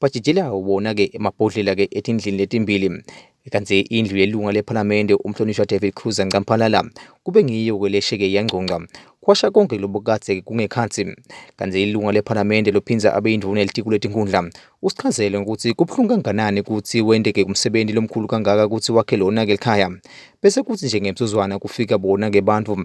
Bajijela wona-ke amabhodlela-ke etindlini letimbili kanti indlu yelunga lephalamende umhlonishwa David Cruz Ncamphalala kube ngiyo-ke lesheke yangcongca kwasha konke lobu kade kungekhathi kanti ilunga lephalamende lophinza abe induna elitiko letinkundla usichazele ukuthi kubuhlungu kanganani ukuthi wendeke umsebenzi lomkhulu kangaka ukuthi wakhe lona-ke likhaya bese kuthi nje ngemsuzwana kufika bona-ke bantu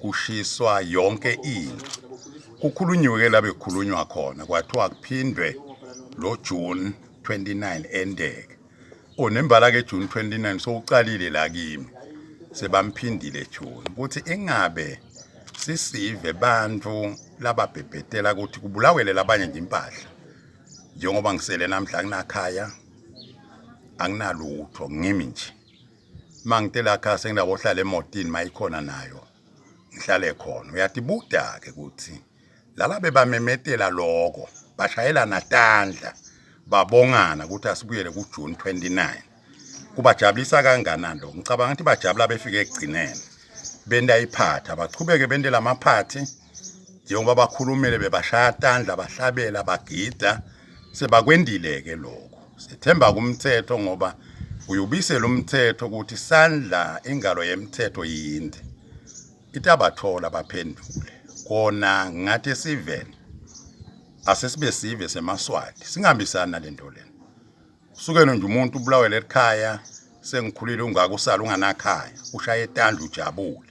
kushiswa yonke into kukhulunyiwe ke labe khulunywa khona kwathiwa kuphindwe lo June 29 endeke o nembala ke June 29 sowuqalile la kimi sebamphindile June ukuthi ingabe sisive bantu lababhebhetela ukuthi kubulawele labanye nje impahla njengoba ngisele namhla kunakhaya anginalutho ngimi nje uma ngite la khaya senginako hlala emotini mayikhona nayo ngihlale khona uyathi buda-ke kuthi laba bebamemetela loko bashayelana tandla babongana ukuthi asibuyele kujuni 29 kubajabulisa kanganani lokho ngicabanga ukuthi bajabula befike ekugcineni bentayiphatha bachubeke bentela amaphathi njengoba bakhulumele bebashaya tandla bahlabela bagida sebakwendile ke lokho sethemba kumthetho ngoba uyubise lo mthetho ukuthi sandla ingalo yemthetho yinde itabathola baphendule kona ngathi esiven asesibe sive semaswati singambisani nalento lena usukene nje umuntu ubulawele ekhaya sengikhulile ungaka usala unganakhaya ushaya etandla ujabule